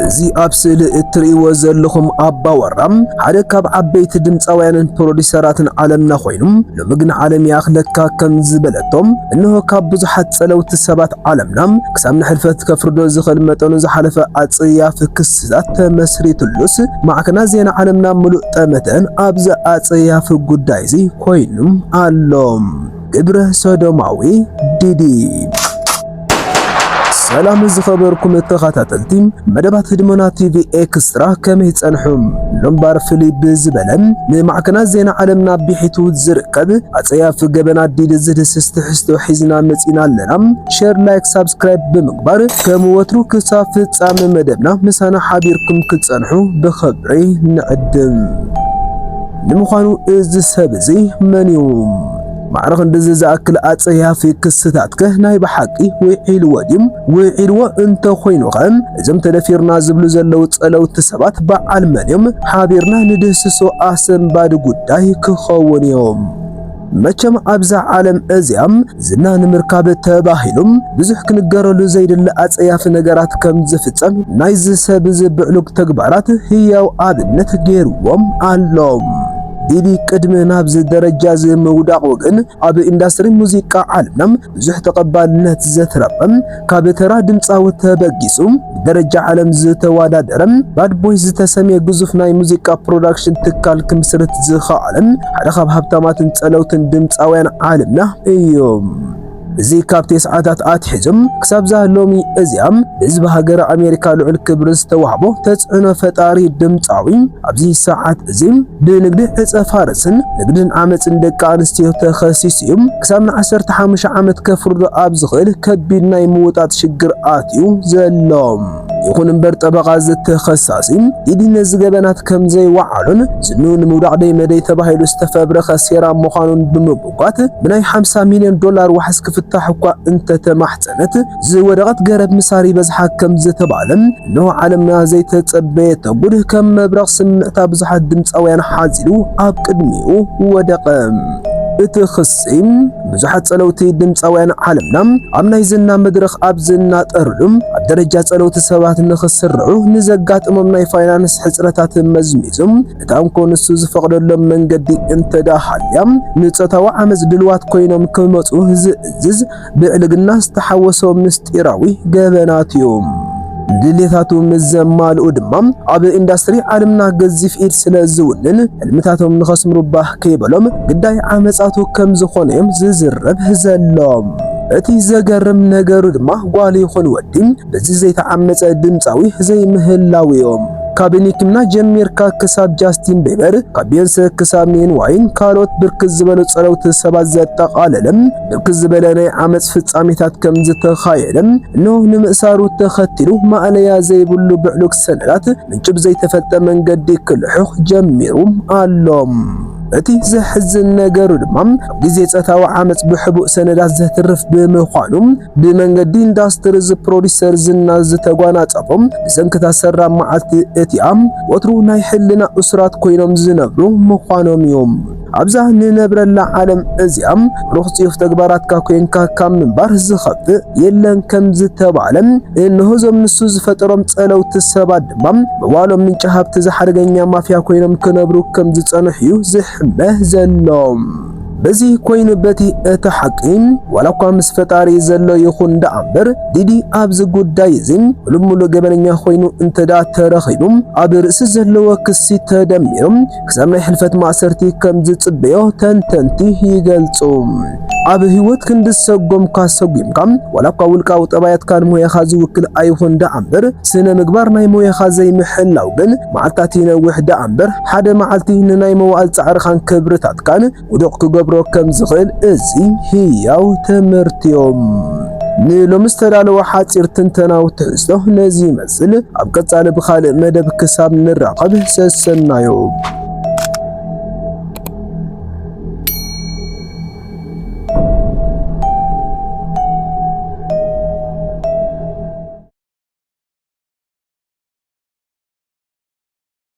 እዚ ኣብ ስእሊ እትርእይዎ ዘለኹም ኣባወራ ሓደ ካብ ዓበይቲ ድምፃውያንን ፕሮዲሰራትን ዓለምና ኮይኑ ሎሚ ግን ዓለም ይኣኽለካ ከም ዝበለቶም እንሆ ካብ ብዙሓት ጸለውቲ ሰባት ዓለምና ክሳብ ንሕልፈት ከፍርዶ ዝኽእል መጠኑ ዝሓለፈ ኣጸያፊ ክስታት ተመስሪቱሉስ ማዕከና ዜና ዓለምና ምሉእ ጠመተን ኣብዚ ኣጸያፊ ጉዳይ እዚ ኮይኑ ኣሎ። ግብረ ሶዶማዊ ዲዲ ሰላም ዝኸበርኩም ተኸታተልቲ መደባት ህድሞና ቲቪ ኤክስትራ ከመይ ጸንሑም? ሎምባር ፍልይ ብዝበለ ንማዕከናት ዜና ዓለምና ቢሒቱ ዝርከብ ኣጸያፊ ገበን ኣዲል ዝድስስ ትሕዝቶ ሒዝና መጺና ኣለና። ሼር፣ ላይክ፣ ሳብስክራይብ ብምግባር ከም ወትሩ ክሳብ ፍጻሜ መደብና ምሳና ሓቢርኩም ክትጸንሑ ብኽብሪ ንዕድም። ንምዃኑ እዚ ሰብ እዚ መን እዩ? ማዕረ ክንድዚ ዝኣክል ኣጸያፊ ክስታትከ ናይ ብሓቂ ውዒልዎ ድዩ? ውዒልዎ እንተኾይኑኸ እዞም ተደፊርና ዝብሉ ዘለዉ ጸለውቲ ሰባት በዓል መን እዮም? ሓቢርና ንድህስሶ ኣሰንባዲ ጉዳይ ክኸዉን እዩ። መቸም ኣብዛ ዓለም እዚኣ ዝና ንምርካብ ተባሂሉ ብዙሕ ክንገረሉ ዘይድለ ኣጸያፊ ነገራት ከም ዝፍጸም ናይዚ ሰብ እዚ ብዕሉግ ተግባራት ህያው ኣብነት ገይርዎም ኣሎ። ዲዲ ቅድሚ ናብዚ ደረጃ እዚ ምውዳቑ ግን ኣብ ኢንዳስትሪ ሙዚቃ ዓለምና ብዙሕ ተቐባልነት ዘትረፈ ካብ ተራ ድምጻዊ ተበጊሱ ብደረጃ ዓለም ዝተወዳደረ ባድ ቦይስ ዝተሰምየ ግዙፍ ናይ ሙዚቃ ፕሮዳክሽን ትካል ክምስርት ዝኸኣለ ሓደ ካብ ሃብታማትን ጸለውትን ድምጻውያን ዓለምና እዩ። እዚ ካብ ቴስዓታት ኣትሒዞም ክሳብዛ ሎሚ እዚኣ ብህዝቢ ሃገረ ኣሜሪካ ልዑል ክብሪ ዝተዋህቦ ተጽዕኖ ፈጣሪ ድምጻዊ ኣብዚ ሰዓት እዚ ብንግዲ ዕጸ ፋርስን ንግድን ዓመጽን ደቂ ኣንስትዮ ተኸሲሱ እዩ። ክሳብ ንዓሰርተ ሓሙሽተ ዓመት ከፍርዶ ኣብ ዝኽእል ከቢድ ናይ ምውጣጥ ሽግር ኣትዩ ዘሎ። ይኹን እምበር ጠበቓ እዚ ተኸሳሲ ኢዲ ነዚ ገበናት ከም ዘይወዓሎን ዝኑ ንምውዳቕ ደይ መደይ ተባሂሉ ዝተፈብረኸ ሴራ ምዃኑን ብምምጓት ብናይ 50 ሚልዮን ዶላር ዋሕስ ክፍታሕ እኳ እንተተማሕጸነት ዝወደቐት ገረብ ምሳር ይበዝሓ ከም ዝተባህለ እነሆ ዓለምና ዘይተጸበየቶ ጉድ ከም መብረቕ ስምዕታ ብዙሓት ድምጻውያን ሓዚሉ ኣብ ቅድሚኡ ወደቐ። እቲ ክሲ ብዙሓት ጸለውቲ ድምጻውያን ዓለምና ኣብ ናይ ዝና መድረኽ ኣብ ዝናጠርሉ ኣብ ደረጃ ጸለውቲ ሰባት ንኽስርዑ ንዘጋጥሞም ናይ ፋይናንስ ሕጽረታት መዝሚዙ እታ እንኮ ንሱ ዝፈቕደሎም መንገዲ እንተዳሃልያ ንጾታዊ ዓመጽ ድልዋት ኮይኖም ክመጹ ዝእዝዝ ብዕልግና ዝተሓወሶ ምስጢራዊ ገበናት እዩ። ንድሌታቱ ምስ ዘማልኡ ድማ ኣብ ኢንዳስትሪ ዓለምና ገዚፍ ኢድ ስለ ዝውንን ሕልምታቶም ንኸስምሩ ባህ ከይበሎም ግዳይ ዓመጻቱ ከም ዝኾኑ እዮም ዝዝረብ ዘሎም። እቲ ዘገርም ነገሩ ድማ ጓል ይኹን ወዲ በዚ ዘይተዓመጸ ድምጻዊ ዘይምህላውዮም። ካብ ኒክና ጀሚርካ ክሳብ ጃስቲን ቤበር፣ ካብ ቤዮንሰ ክሳብ ኒን ዋይን ካልኦት ብርክት ዝበሉ ጸለውቲ ሰባት ዘጠቓለለ ብርክት ዝበለ ናይ ዓመጽ ፍጻሜታት ከም ዝተኻየደ እንሆ ንምእሳሩ ተኸቲሉ ማእለያ ዘይብሉ ብዕሉግ ሰነዳት ምንጩ ብዘይተፈልጠ መንገዲ ክልሑኽ ጀሚሩ ኣሎ። እቲ ዘሕዝን ነገሩ ድማ ኣብ ግዜ ጸታዊ ዓመጽ ብሕቡእ ሰነዳት ዘትርፍ ብምዃኑ ብመንገዲ ኢንዳስትሪ እዚ ፕሮዲሰር ዝና ዝተጓናጸፉ ብሰንክታ ሰራ መዓልቲ እቲኣም ወትሩ ናይ ሕልና እሱራት ኮይኖም ዝነብሩ ምዃኖም እዮም። ኣብዛ ንነብረላ ዓለም እዚኣ ሩኽ ጽዩፍ ተግባራትካ ኮንካ ካብ ምንባር ዝኸፍእ የለን ከም ዝተባህለ እነሆ እዞም ንሱ ዝፈጠሮም ጸለውቲ ሰባት ድማ መዋሎም ምንጪ ሃብቲ ዝሓደገኛ ማፍያ ኮይኖም ክነብሩ ከም ዝጸንሑ እዩ ዝሕመ ዘሎ። በዚ ኮይኑ በቲ እቲ ሓቂ ዋላ እኳ ምስ ፈጣሪ ዘሎ ይኹን ደኣ እምበር ዲዲ ኣብዚ ጉዳይ እዚ ሙሉእ ሙሉእ ገበነኛ ኮይኑ እንተደኣ ተረኺቡ ኣብ ርእሲ ዘለዎ ክሲ ተደሚሩ ክሳብ ናይ ሕልፈት ማእሰርቲ ከም ዝጽበዮ ተንተንቲ ይገልጹ። ኣብ ህይወት ክንዲ ሰጎምካ ሰጒምካ ዋላ እኳ ውልቃዊ ጠባያትካን ሞያኻ ዝውክል ኣይኹን ደኣ እምበር ስነ ምግባር ናይ ሞያኻ ዘይምሕላው ግን መዓልታት ይነውሕ ደኣ እምበር ሓደ መዓልቲ ንናይ መዋእል ጻዕርኻን ክብርታትካን ውዱቕ ክገብሮ ከም ዝኽእል እዚ ህያው ትምህርቲዮ። ንሎሚ ዝተዳለወ ሓጺር ትንተናዊ ትሕዝቶ ነዚ ይመስል። ኣብ ቀጻሊ ብኻልእ መደብ ክሳብ ንራኸብ ሰሰናዩ።